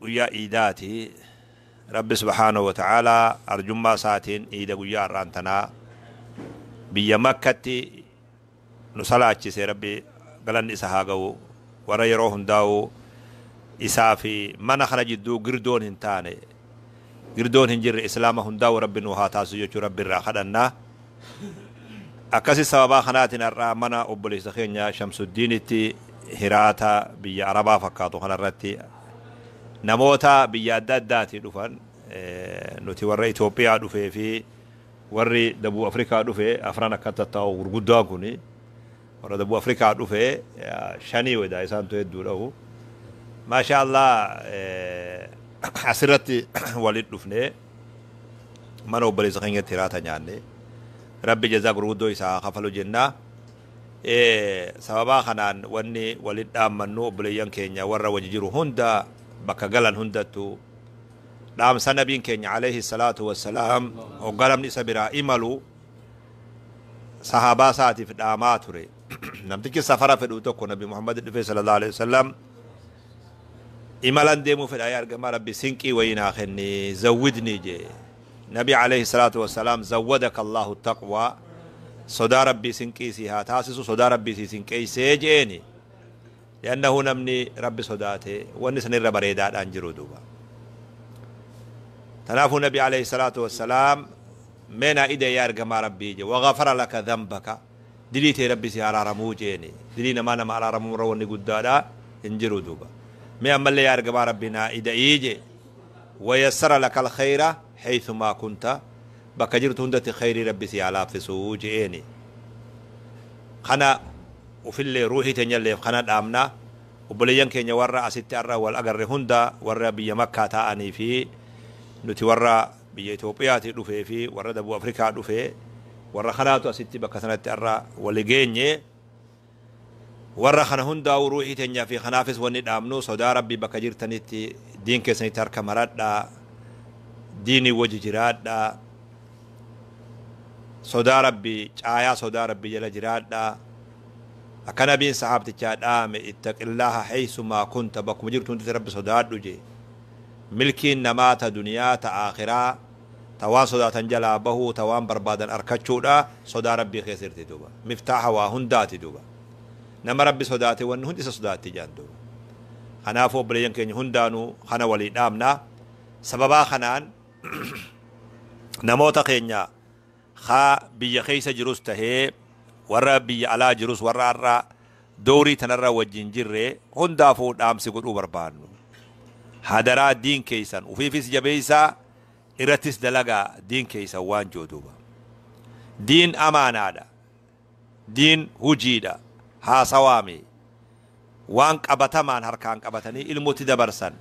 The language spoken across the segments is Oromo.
Guyyaa iidaati. Rabbi subhaanahu wa ta'aalaa arjummaa isaatiin iida guyyaa har'aan tanaa biyya makkatti nu salaachise rabbi galanni isa haa ga'u. Warra yeroo hundaa'u isaa fi mana kana jidduu girdoon hin taane girdoon hin jirre islaama hundaa'u rabbi nuu haa taasisu jechuun rabbi irraa kadhanna. Akkasi sababaa kanaatiin har'a mana obboleessa keenya Shamsuddiinitti hiraata biyya Arabaa fakkaatu kanarratti namoota biyya adda addaatii dhufan nuti warra Itoophiyaa dhufee fi warri Dabuu Afrikaa dhufe afran akka tattaa'u gurguddaan kuni Warra dabbu Africa dhufe shanii wayda isaantu hedduudhahu Masha Allah asirratti walit dhufne mana obboleessa keenyatti hiraata nyaanne rabbi jazaa gurguddoo isaa haa kafalu jenna sababaa kanaan wanni walit dhaammannu obboleeyyan keenya warra wajji jiru hunda bakka galan hundattu dhaamsa nabiin keenya alayhi salaatu wassalaam hoggaa namni isa biraa imalu sahaabaa isaatiif dhaamaa ture namtichi safara fedhu tokko nabi muhammad dhufee sallallahu alaihi wasallam imalan deemuu fedha yaa ergamaa rabbi sinqii wayii naa kenni zawwidni jee nabi alaihi salaatu wassalaam zawwadaka allahu taqwaa sodaa rabbii sinqii sii haa taasisu sodaa rabbii sii sinqeeysee jeeni Li'annahu namni Rabbi sodaate wanni san irra bareedaadha hin jiru duuba. Tanaafuu Nabi alayhi salaatu wassalaam mee naa ida'e yaa ergamaa Rabbii je waghafara laka dhanbaka dilii tee Rabbi si haraaramuu jeeni dilii namaa nama araaramuu irra wanni guddaadha hin jiru duuba. Mee ammallee yaa ergamaa Rabbi naa ida'ii je wayassara lakal khayra haythumaa kunta bakka jirtu hundatti khayrii Rabbi si haa laaffisuu je'eeni. Kana ufillee ruuhii teenyalleef kana dhaamna. Obboleeyyan keenya warra asitti har'a wal agarre hunda warra biyya Makkaa taa'anii fi nuti warra biyya Itoophiyaatii dhufee fi warra Dabuu Afrikaa dhufe warra kanaatu asitti bakka sanatti har'a wali geenye. Warra kana hundaa'uu ruuhii teenyaa fi kanaafis wanni dhaamnu sodaa Rabbii bakka jirtanitti diin keessanitti harka maradhaa, diinii wajji jiraadhaa, sodaa rabbii caayaa sodaa rabbii jala jiraadhaa akka nabiin sahaabtichaa dhaame ittaqillaaha haysumaa kunta bakkuma jirtu hundatti rabbi sodaadhu jee milkiin namaa ta duniyaa ta aakhiraa ta waan sodaatan jalaa bahuu ta waan barbaadan arkachuudha sodaa rabbii keessa jirti duuba miftaaha waa hundaati duuba nama rabbi sodaate wanni hundi isa sodaatti jedhan duuba kanaafuu obboleeyyan keenya hundaanuu kana walii dhaamnaa sababaa kanaan namoota keenya haa biyya keessa jirus tahee warra biyya alaa jirus warra har'a doorii tanarra wajjin jirre hundaafuu dhaamsi godhuu barbaannu. Hadaraa diin keessan ufiifis jabeessaa irrattis dalagaa diin keessan waan jooduuba. Diin amaanaadha. Diin hujiidha haasawaami. Waan qabatamaan harkaan qabatanii ilmotti dabarsan,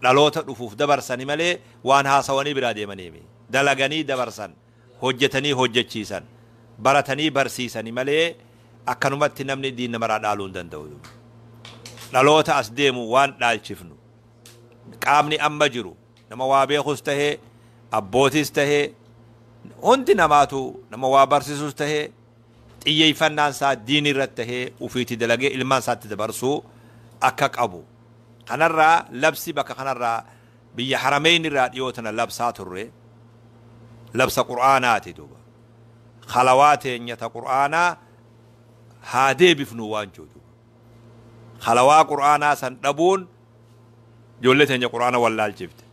dhaloota dhufuuf dabarsani malee waan haasawanii biraa deemaniimi. Dalaganii dabarsan, hojjetanii hojjechiisan, baratanii barsiisani malee akkanumatti namni diin namaraa dhaaluu hin danda'u. Dhaloota as deemu waan dhaalchifnu qaamni amma jiru, Nama waa beekus tahee, abbootis tahee, hundi namaatu nama waa barsisus tahee, xiyyeeffannaan isaa diinii irratti tahee ufiiti dalagee ilmaan isaatti dabarsuu akka qabu. Kanarraa labsi bakka kanarraa biyya Harameyn irraa dhiyoo tana labsaa turre. Labsa Qur'aanaati duuba. Khalawaa teenya ta Qur'aanaa haa deebifnu waan jedhu duuba. Khalawaa Qur'aanaa san dhabuun Ijoollee teenya Qur'aana wallaalchifte.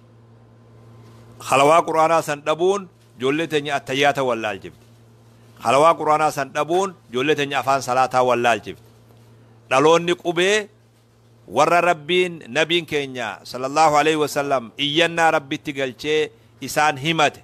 Halawaa Qur'aanaa san dhabuun ijoollee teenya attayyaata wallaalchifte. Halawaa Qur'aanaa san dhabuun ijoollee teenya afaan salaataa wallaalchifte. Dhaloonni qubee warra Rabbiin Nabiin keenya sallallahu aleyhi wa sallam iyyannaa Rabbitti galchee isaan himate.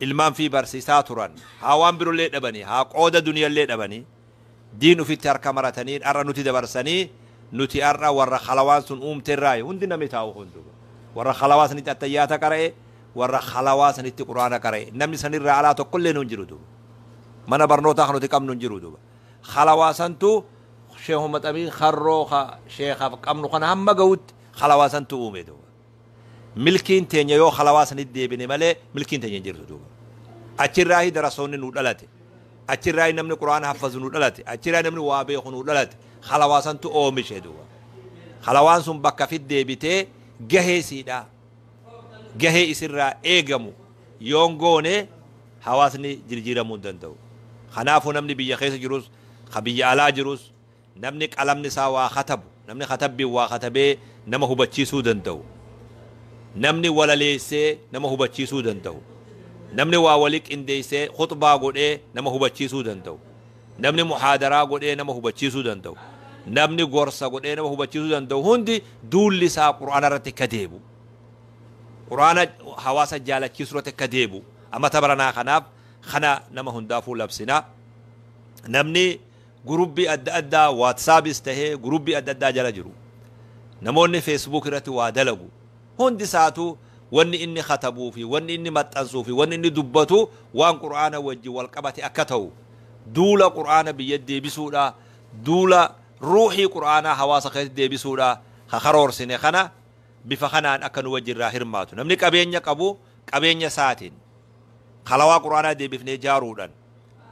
ilman fi barsisaa turan haa waan birollee dhabanii haa qooda duniyallee dhabanii diin ufitti harka maratanii ar'a nuti dabarsanii nuti ar'a warra khalawaan sun uumte irraayi hundi namni taa'u kun duba warra khalawaa sanitti attayyaata qara'e warra khalawaa sanitti quraana qara'e namni sanirraa alaa tokkollee nu hin jiru duba mana barnootaa kan nuti qabnu hin jiru duba khalawaa santu sheehu maxamii karroo ka sheekaf qabnu kana hamma ga'utti khalawaa santu uume duba Milkiin teenya yoo halawaa sanit deebine malee milkiin teenya hin jirtu duuba. Achirraahi darasoonni nuu dhalate. Achirraahi namni Qur'aana haffazu nuu dhalate. Achirraahi namni waa beeku nuu dhalate. Halawaa santu oomishe duuba. Halawaan sun bakka fit deebitee gahee siidha. Gahee isirraa eegamu yoon goone hawaasni jirjiiramuu hin danda'u. Kanaafuu namni biyya keessa jirus, ka biyya alaa jirus, Namni qalamni isaa waa katabu, namni katabbiin waa katabee nama hubachiisuu danda'u, namni walaleessee nama hubachiisuu danda'u, namni waa wali qindeessee khuxbaa godhee nama hubachiisuu danda'u, namni muhaadaraa godhee nama hubachiisuu danda'u, namni gorsa godhee nama hubachiisuu danda'u hundi duulli isaa Qur'aana irratti akka deebi'u, Qur'aana hawaasa jaalachiisuu irratti akka deebi'u amata baranaa kanaaf kana nama hundaafuu labsina. Namni. Gurupii adda addaa WhatsAppis tahee gurupii adda addaa jala jiru. Namoonni Facebook irratti waa dalagu. Hundi isaatu wanni inni katabuu fi wanni inni maxxansuu fi wanni inni dubbatu waan Qur'aana wajjin wal qabate akka tahu duula Qur'aana biyyatti deebisuudha, duula ruuhii Qur'aanaa hawaasa keessatti deebisuudha ka karoorsine kana bifa kanaan akka nu wajjin irraa hirmaatu. Namni qabeenya qabu qabeenya isaatiin halawaa Qur'aanaa deebifnee jaaruudhan.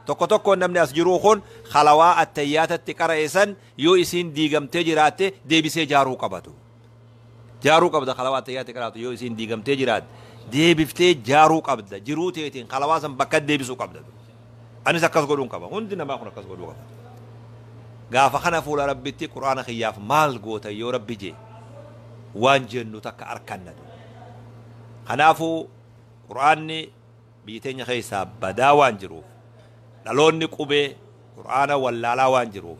Tokko tokkoon namni as jiruu kun khalawaa attayyaatatti qara'e san yoo isiin diigamtee jiraatte deebisee jaaruu qabatu. Jaaruu qabda khalawaa attayyaatti qaraatu yoo isiin diigamtee jiraatte deebiftee jaaruu qabda jiruu teetiin khalawaa san bakka deebisuu qabda. Anis akkas godhuun qaba hundi namaa kun akkas godhuu qaba. Gaafa kana fuula rabbitti quraana kiyyaaf maal goota yoo rabbi jee waan jennu takka arkanna. Kanaafuu quraanni Biyyi teenya keessaa badaa waan jiruuf, dhaloonni qubee Qur'aana wallaalaa waan jiruuf,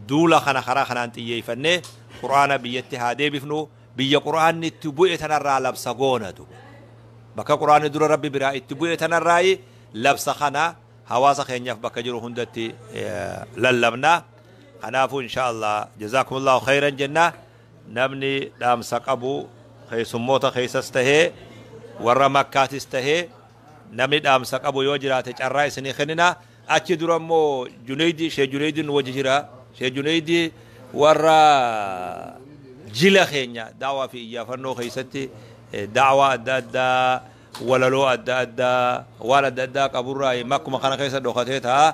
duula kana karaa kanaan xiyyeeffannee Qur'aana biyyatti haa deebifnu, biyya Qur'aanni itti bu'e tanarraa labsa goonatu. Bakka Qur'aanni dura Rabbi biraa itti bu'e tanarraayi labsa kana hawaasa keenyaaf bakka jiru hundatti lallabna. Kanaafuu inshaa Allah jazaakumullahu khayran jenna. Namni dhaamsa qabu keessummoota keessas tahee warra Makkaatis tahee namni dhaamsa qabu yoo jiraate carraa isinii kennina. Achi dura immoo Juneeydi, Sheeh Juneeydi nu wajji jira. Sheeh Juneeydi warra jila keenya daawaa fi iyyaafannoo keessatti eh, daawaa adda addaa, walaloo adda addaa, waan adda addaa qaburraa makkuma kana keessa dhokatee ta'a.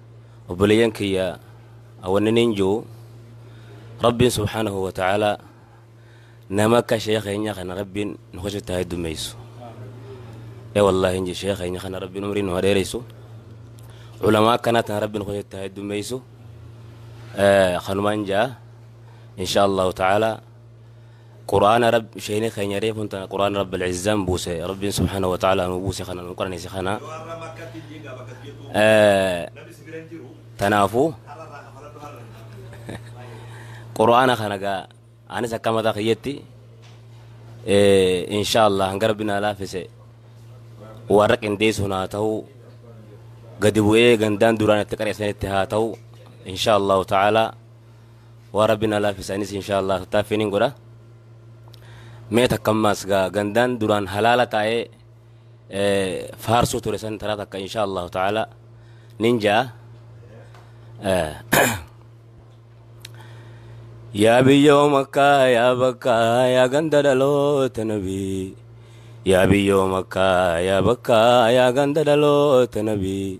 obboleeyyan kiyya awanniniin jiru rabbiin subhaanahu wa ta'aalaa nama akka sheekh keenya kana rabbiin nu keessatti haa heddummeessu ee wallaahi inji sheekh keenya kana rabbiin umrii nu haa dheeressu ulamaa akkanaa tana rabbiin nu keessatti haa heddummeessu kanumaan jaa insha allahu ta'aalaa Qur'aana Rabb sheeyni keenya reefun tana Qur'aana Rabbul Izzaan buuse Rabbiin subhaanahu wa ta'aalaa nuu buuse kana nuu qaraneesse kana tanaafu Qur'aana kana gaa anis akka mataa kiyyatti inshaa Allah hanga Rabbi naa laafise warra qindeessuun haa ta'u gadi bu'ee gandaan duraan itti qareessanitti haa ta'u inshaa Allahu ta'aalaa waa rabbi na laafisa anis inshaallah taaffiin hin godha mee takka ammaas gaa gandaan duraan halaala taa'ee faarsuu ture san taraa takka inshaallah ta'ala nin ja'a yaa biyyoo makkaa yaa bakkaa yaa ganda dhaloota nabii yaa biyyoo makkaa yaa bakkaa yaa ganda dhaloota nabii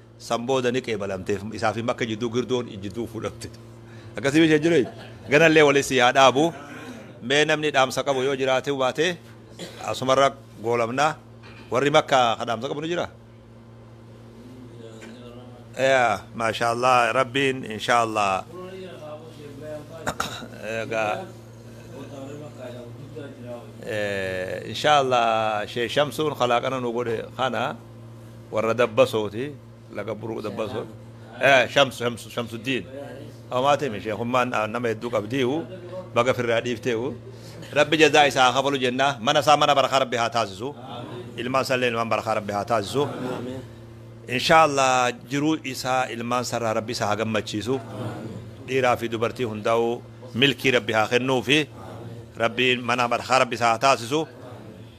San booda ni qeebalamteef. Isaa fi Makka jidduu girdoon jidduu fudhatte. Akkasii ishee jiru. Ganallee wali sii haa dhaabu. Mee namni dhaamsa qabu yoo jiraate baate asumarra goolabna. Warri Makka ka dhaamsa qabu ni jira? Yaa maashaallah rabbiin inshaallah. Egaa inshaallah Sheekh Shamsuun kalaaqana nu godhe kana. warra dabbasooti laga buruu dabbasoo shamsu shamsu shamsuddiin homaatimi sheekummaan nama hedduu qabdiihu baga firraa dhiifteehu rabbi jazaa isaa haa kafalu jennaa mana isaa mana barakaa rabbi haa taasisu ilmaan isaa illee ilmaan barakaa rabbi haa taasisu inshaallah jiruu isaa ilmaan sarraa rabbi isaa haa gammachiisu dhiiraa fi dubartii hundaa'uu milkii rabbi haa kennuu fi rabbiin mana barakaa rabbi isaa haa taasisu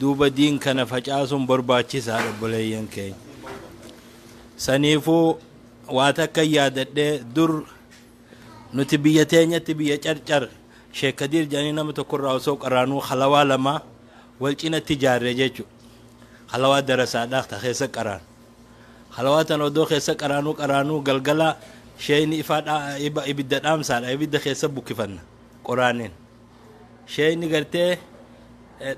duuba diin kana facaasuun barbaachisaadha obboleeyyan keenya. Saniifuu waa takka yaadadhe dur nuti biyya teenyatti biyya carcar Sheek Kadiir jedhanii nama tokkorraa osoo qaraanuu halawaa lama wal cinatti ijaarre jechuudha. Halawaa darasaadhaa ta keessa qaraan. Halawaa tan odoo keessa qaraanuu qaraanuu galgala sheeyni ifaa dhaa- iba- ibidda dhaamsaadha ibidda keessa bukkifanna qoraaniin. Sheeyni gartee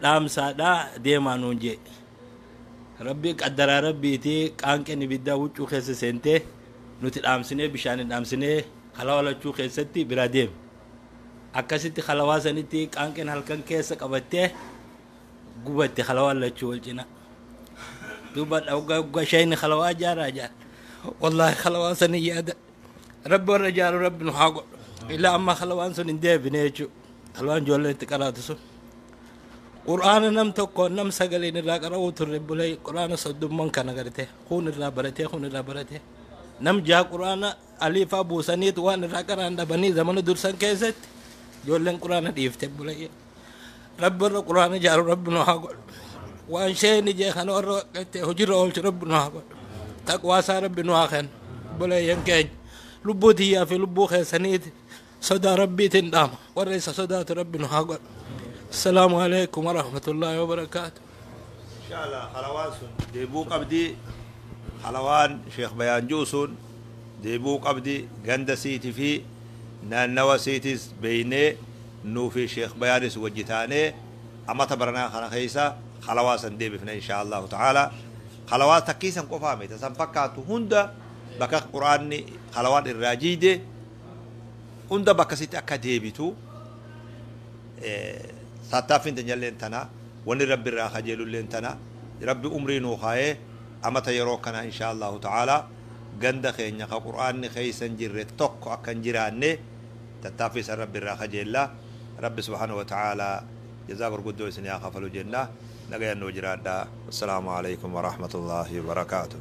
dhaamsaadha deemaa nuun jee. Rabbi qaddaraa rabbiiti qaanqeen ibiddaa huccuu keessa seentee nuti dhaamsinee bishaan hin dhaamsinee halawaa lachuu keessatti biraa deeme. Akkasitti halawaa sanitti qaanqeen halkan keessa qabattee gubatte halawaa lachuu wal cina. Duuba dhawgaa sheeyni halawaa jaaraa jaara. Wallaahi halawaa sanii yaada. Rabbi warra ijaaru rabbi nu haa godhu. Ilaa amma halwaan sun hin deebine jechuudha. Halwaan ijoolleen itti qaraatu sun. Quraana nam tokko nam sagaleen irraa qara'uu turre bulee quraana soddumman kana gartee kun irraa baratee kun irraa baratee. Nam jaha quraana aliifaa buusaniitu waan irraa qaraan dhabanii zamana dursan keessatti ijoolleen quraana dhiifte bulee. Rabbi warra Qur'aana ijaaru Rabbi nu haa godhu. Waan sheeyni jee kana warra waqqattee hojiirra oolchu Rabbi nu haa godhu. Taqwaa isaa Rabbi nu haa kennu. Obboleeyyan keenya lubbuu tiyyaa fi lubbuu keessaniiti sodaa Rabbiitiin dhaama. Warra isa sodaatu Rabbi nu haa godhu. Assalaamu alaikum warahmatullaahi wabarakaatu. inshallah halawaan sun deebuu qabdi halawaan sheekh bayaan ji'u sun deebuu qabdi ganda siiti fi naannawa siitis beeynee nuu fi sheekh bayaanis wajji taanee amata baranaa kana keessa halawaa san deebifna inshaallahu ta'ala halawaa takkii san qofaa miti san fakkaatu hunda bakka quraanni halawaan irraa jiide hunda bakka sitti akka deebitu saattaaffiin teenyalleen tana wanni rabbi irraa kajeelulleen tana rabbi umrii nuu kaayee amata yeroo kana inshaa allahu ta'aalaa ganda keenya ka qur'aanni keessa hin jirre tokko akka hin jiraanne tattaaffii san rabbi irraa kajeella rabbi subhaanahu wa ta'aalaa jazaa gurguddoo isin haa kafalu jenna nagayan nuu jiraadha assalaamu alaikum warahmatullaahi wabarakaatuh